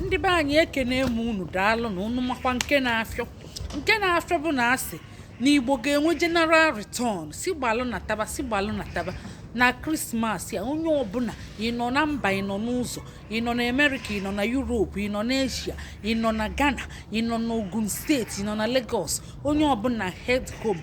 ndị be anyị ekenee m unu daalụ na unu makwa nke na-afịọ nke na-afịọ bụ na a sị na igbo ga-enwe general return sị gbalụ nataba sị gbalụ nataba na krismas a onye ọbụla ị nọ na mba ị nọ n'ụzọ ị nọ na amerịka ị nọ na yuropu ị nọ na eshia ị nọ na ghana ị nọ na ogun steeti ị nọ na legos onye ọbụla head home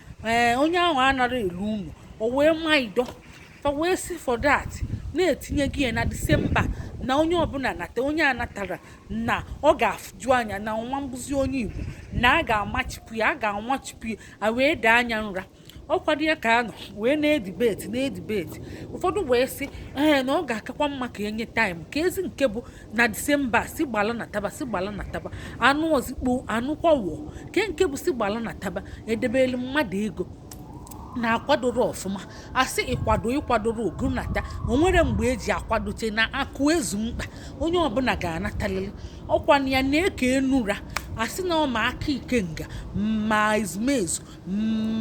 ee onye ahụ anara elu ụlọ o wee ma ido fa wee si for that na-etinye gị ya na disemba na onye ọbụla nata onye anatarọ na ọ ga-afụju anya na nwa mbụzi onye igbo na a ga-amachipụ ya a ga-amachipụ ya a wee daa nya nra ọkwado ya ka a nọ wee na-edibeti na-edibeti ụfọdụ wee sị ee na ọ ga-akakwa mma ka e nye taịm ka ezi nke bụ na disemba sị gbala nataba sị gbala nataba anụ ozikpo anụ kwawọ ke nke bụ sị gbala nataba edebelụ mmadụ ego na-akwadoro ọfụma a sị ị kwado ị kwadorọ gị nata o nwerọ mgbe e ji akwadocha na akụ ezu mkpa onye ọbụla ga-anatalili ọ kwa nya na-eke enura a sị na ọ ma aka ikenga ma ezumezu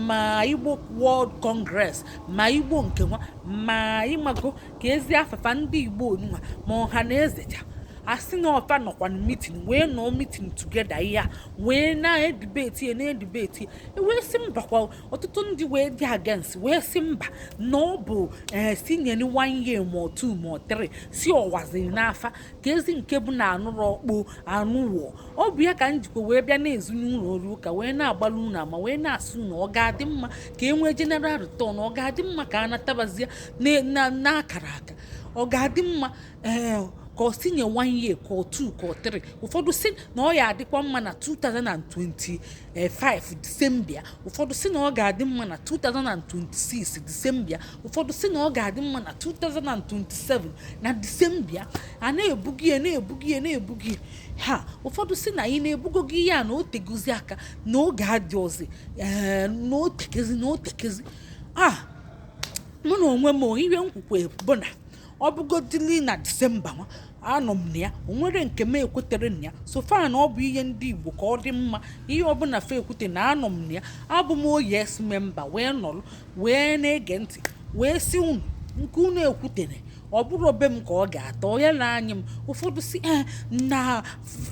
ma igbo world congress ma igbo nke nwa ma ịmago ka ezi afafa ndị igbo onunwa ma ọhanaeze cha a sị na ọ fa nọkwa na mitin wee nọọ mitin together ya wee na-edibeti ya na-edibeti e wee sị mba kwa ọtụtụ ndị wee dị against wee sị mba na ọ bụ ee eh, sị nyenụ one year ma ọ two ma ọ three sị ọwaziri n'afa ka ezi nke bụ na anụrụ ọkpụ anụwọ ọ bụ ya ka m jikwa wee bịa na-ezu n'ụlọ ọrụ ụka wee na-agbalụ unu ama wee na-asị na ọ ga-adị mma ka e nwee general return ọ ga-adị mma ka a natabazie n'akara aka ọ ga-adị mma ee eh, ka a sị nye one year ka ọ two ka ọ three ụfọdụ si na ọ ya-adịkwa mma na 2025 disemba ụfọdụ si na ọ ga-adị mma na 2026 disemba ụfọdụ si na ọ ga-adị mma na 2027 na disemba a na-ebugi ya na-ebugi ya na-ebugi ha ụfọdụ si na anyị na-ebugo gị ya na o tegozi aka na oge adịrọzi ee eh, na otekezi na otekezi a ah, mụ na onwe m ihe nkwukwe bụ na ọ bụgodili na disemba nwa anọ m na ya o nwere nke m ekwetere na ya so far na ọ bụ ihe ndị igbo ka ọ dị mma ihe ọbụla fa ekwute na anọ m na ya abụ m oh yes member wee nọrọ wee na-ege ntị wee si unu nke unu ekwutere ọ bụrụ obe m ka ọ ga-atọ ya na anya m ụfọdụ si eh, na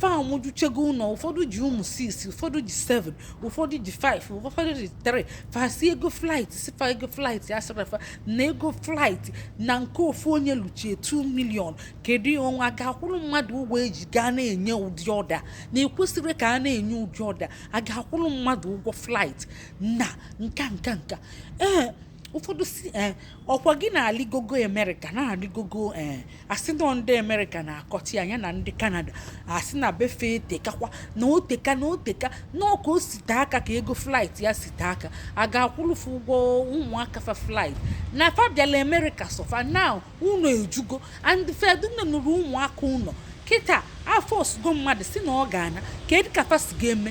fa mụjuchego ụlọ ụfọdụ ji ụmụ 6 ụfọdụ ji 7 ụfọdụ ji 5 ụfọdụ ji 3 fa sị ego flight sị fa ego flight a sịrị fa na ego flight na nke ofu onye luchie 2 million kedu onye ga-akwụrụ mmadụ ụgwọ eji gaa na-enye ụdị ọda na ekwesịrị ka a na-enye ụdị ọda a ga-akwụrụ mmadụ ụgwọ flight na nka nka nka ee ụfọdụ si ee ọkwa gị na-alịgogo amerịka na-alịgogo ee asị na ndị amerịka na-akọcha ya ya na ndị kanada asị na be fa etekakwa na o teka na o teka na ọka o si te aka ka ego flight ya si te aka a ga-akwụlụfụ ụgwọ ụmụaka fa flight na fa bịala amerịka suffer na ụnọ ejugo and fa edunanụrọ ụmụaka ụnọ kịta afọ osugo mmadụ si na ọ ga-ana kedụ ka fa si ga-eme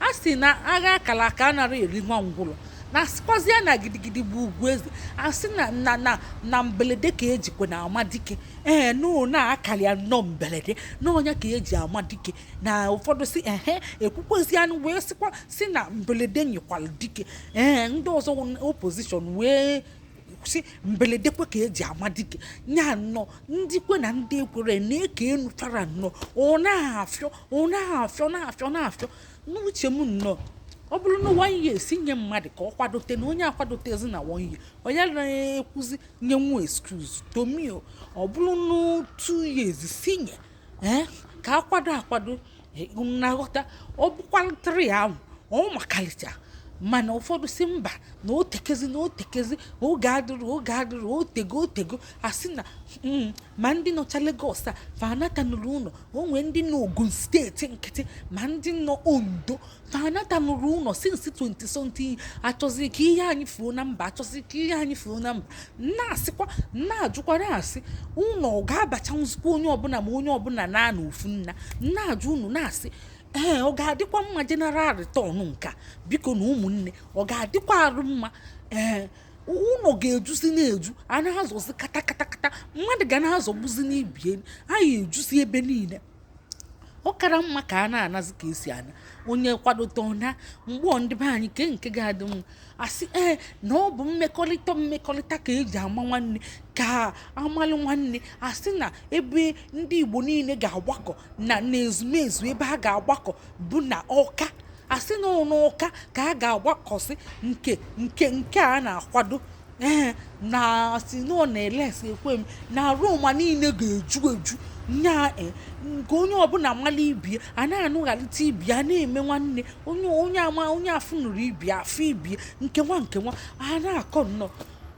a sị na agha a kala aka anarọ eri nwa ngwụlọ na asịkwazi ya na gidigidi bụ ugwu eze asị na na na na mbelede ka ejikwa na ama dike ee no na akara ya nnọọ mbelede na ọ nya ka eji ama dike na ụfọdụ si ehe ekwukwezi anụ wee sịkwa si na mbelede nyịkwala dike ee ndị ọzọ opposition wee si mbeledekwe ka eji ama dike ya nọ ndị kwe na ndị ekwerọ na-eke enu fara nnọọ ọ na-afịọ ọ na-afịọ na-afịọ na-afịọ n'uche m nnọọ ọ bụrụ na one year si nye mmadụ ka ọ kwadote na onye akwadotezi na one year onye anaghị ekwuzi nye nwa excuse to me o ọ bụrụ na two years si nye ee ka akwado akwado e, na-aghọta ọ bụkwara three ahụ ọ makalicha mana ụfọdụ si mba na o tekezi na o tekezi oge adịrọ oge adịrọ o tego o tego asị na mm, ma ndị nọcha Lagos fa anatanụrọ ụnọ o nwee ndị nọ Ogun steeti nkịtị ma ndị nọ Ondo fa anatanụrọ ụnọ since 20 something achọzi ka ihe anyị fuo na mba achọzi ka ihe anyị fuo na mba na-asịkwa na-ajụkwara asị ụlọ ọ ga-abacha nzukọ onye ọbụla ma onye ọbụla na na ofu nna na-ajụ unu na-asị ee ọ ga-adịkwa mma general return nka biko na ụmụnne ọ ga-adịkwa arụ mma ee ụnọ ga-ejuzi na-eju a na-azọzi kata kata kata mmadụ ga na-azọgbuzi n'ibie anyị ejuzi ebe niile ọ kara mma ka a na-anazi ka esi ana onye kwadote ọ naa mgbe ndị be anyị kee nke ga-adị mma asị ee eh, na ọ bụ mmekọrịta mmekọrịta ka eji ama nwanne ka amalụ nwanne asị na ebe ndị Igbo niile ga-agbakọ na n'ezumezu ebe a ga-agbakọ bụ na Ọka asị na ọ n'Ọka ka a ga-agbakọsị nke nke nke a na-akwado ee na si na ọ na Alex Ekwueme na Aroma niile ga-eju eju nya e nke onye ọbụna mala ibie a na-anụghalite ibie a na-eme nwanne onye onye ama onye afụnụrọ ibie afụ ibie nkewa nkewa a na-akọ nnọọ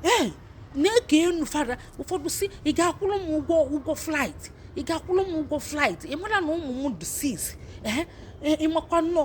ee na-eke enu fada ụfọdụ si ị ga-akwụrụ m ụgwọ ụgwọ flight ị ga-akwụrụ m ụgwọ flight ị mara na ụmụ m dị six ee ịmakwa nnọọ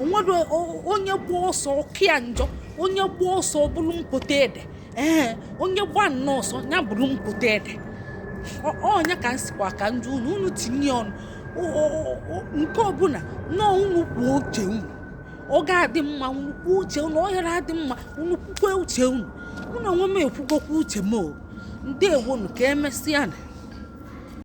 onwere onye gba ọsọ ọkịa njọ onye gba ọsọ bụrụ mpoto ede ee onye gba nnọọ ọsọ ya bụrụ mpoto ede ọ nya ka m sịkwa ka m jụọ unu unu tinye ọnụ nke ọbụla nọọ unu kwuo uche unu ọ ga-adị mma unu kwuo uche unu ọ hara adị mma unu kwukwe uche unu mụ onwe m ekwugokwa uche m o ndewonu ka emesịa na